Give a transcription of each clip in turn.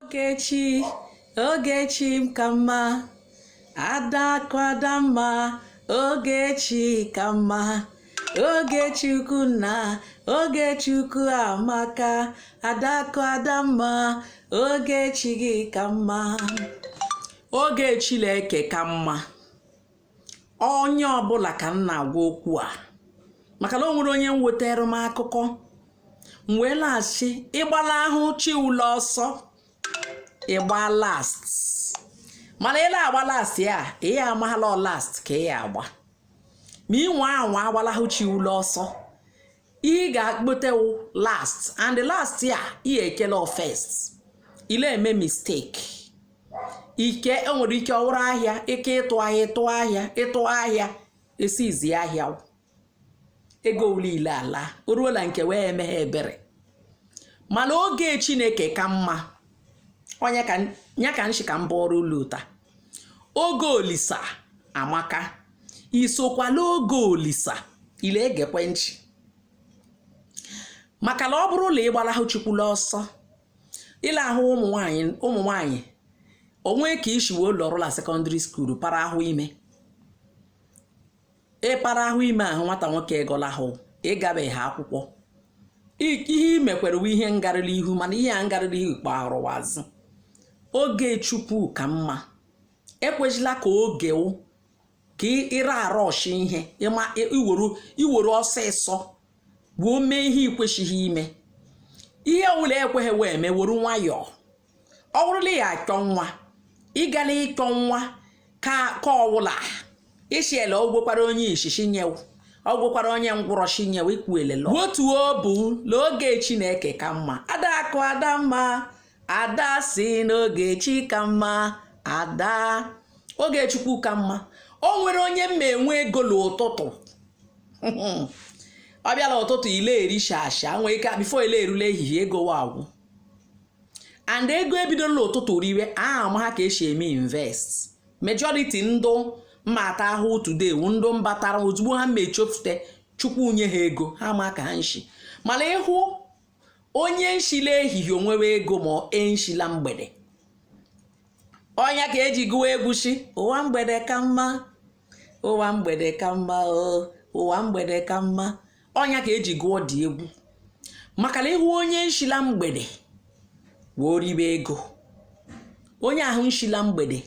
Ogechi, Ogechi ka mma, Adakụ Adamma, Ogechi ka mma. Ogechukwu nna, Ogechukwu amaka, Adakụ Adamma, Oge chi gị ka mma. Oge Chineke ka mma. onye ọbụla ka m na-agwa okwu a maka na o nwere onye wetara m akụkọ m wee la-ashị ị gbalahụ chi ụ la ọsọ ị gba last mana ị la-agba last ya ị ya amahala last ka ị ya agba ma ị nwa anwa agbalahụ chi ụ la ọsọ ị ga-akpotewu last and last ya ị ekele first ị le-eme mistake ike o nwere ike ọ wụrụ ahịa ike ịtụ ahịa ịtụ ahịa ịtụ ahịa esizi ahịa ego ụ lile ala o ruola nke wee emeghe ebere mana oge chineke ka mma ọnya ka nshi ka m bụọrọ ụlụ taa oge olisa amaka ị sokwala oge olisa ị le-egekwe nchị maka na ọ bụrụ na ị gbalahụ chukwu la ọsọ ị la-ahụ ụmụ nwanyị o nwe ka ị shi wee lọrụ la secondary school para ahụ ime ị para ahụ ime ahụ nwata nwoke agọlahụ ị gabeghị akwụkwọ ihe imekwere uwe ihe ngarịrị ihu mana ihe a ngarịrị ihu kpọrọwa azụ oge chukwu ka mma ekwezila ka oge wụ ka ịra arọshi ihe ị were ọsịsọ wee mee ihe i kwesịghị ime ihe ọbụla ekweghị wee mee were nwayọọ ọ bụrụ na ị ya achọ nwa ị gala ịchọ nwa ka ọwụla ishiele ogwekwara onye ishishi nye wụ ọgwụkwara onye ngwụrọ shi nye wụ ikwuelelo otu o bụ n'oge chineke ka mma adakụ adamma ada si n'oge chi ka mma ada oge chukwu ka mma o nwere onye mma enwe ego n'ụtụtụ ọ bịa la ụtụtụ ị le-eri shasha nwee ike before ile erule ehihie ego wụ agwụ and ego ebido la ụtụtụ riwe ha amaha ka esi eme invest majority ndụ mmata ahụ today wụ ndụ mbatara ozugbo ha mechefute chukwu nye ha ego ha ma ka ha nshi mana ị hụ onye nshi la ehihie onwewe ego ma enshi la mgbede ọnya ka eji gụwa egwu sị ụwa mgbede ka mma ụwa mgbede ka mma ụwa mgbede ka mma ọnya ka eji gụọ dị egwu maka na ịhụ onye nshila mgbede wee ribe ego onye ahụ nshila mgbede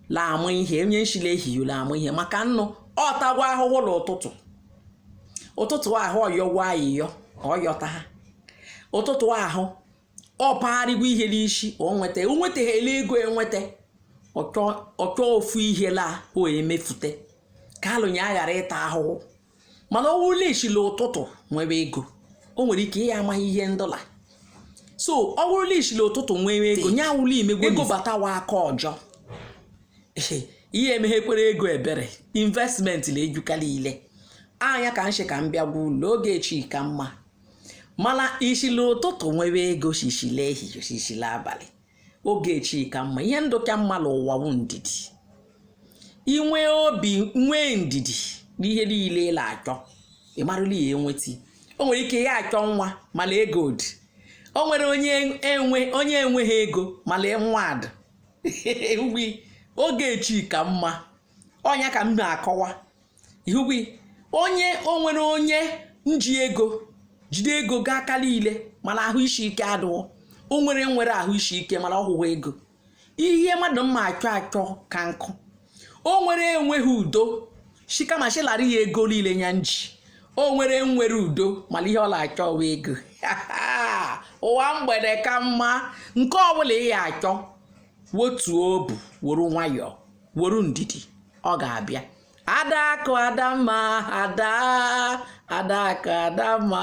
la ama ihe onye nshila ehihie la ama ihe maka nnụ ọ tagwa ahụhụ na ụtụtụ ụtụtụ ahụ ọ yọgwa ayịyọ ọ yọta ha ụtụtụ ahụ ọ pagharịgo ihe n'isi o nweta o nwetaghịla ego enweta ọ chọ ofu ihe la o emefute ka alụnye aghara ịta ahụhụ mana ọ wụrụla ishila ụtụtụ nwere ego o nwere ike ya amaghị ihe ndọla so ọ wụrụla ishila ụtụtụ nwere ego nya wụla imegwe ego batawa aka ọjọọ ihe emeghekwere ego ebere investment na-ejukarị ile anya ka nshi ka m bịa gwa ulu oge chi ka mma mana ishila ụtụtụ nwere ego shishila ehihie shishila abalị oge chi ka mma ihe ndụ ka mma n'ụwa wụ ndidi inwe obi nwee ndidi n'ihe niile ị na-achọ ị marụla ya enweta o nwere ike ya achọ nwa mana ego dị o nwere onye enweghị ego mana nwa dị Ewi, oge chi ka mma ọnya ka m na-akọwa ihugwi onye o nwere onye nji ego jide ego gaa aka niile mana ahụ isi ike adụọ o nwere nwere ahụ isi ike mana ọ hụghị ego ihe mmadụ mma achọ achọ ka nkụ o nwere enweghị udo shi kama shi lara ya ego niile ya nji o nwere nwere udo mana ihe ọ na-achọ wụ ego ụwa mgbede ka mma nke ọbụla ị ya achọ wotuo obu woro nwayọọ were ndidi ọ ga-abịa adakụ adamma ada adakụ adamma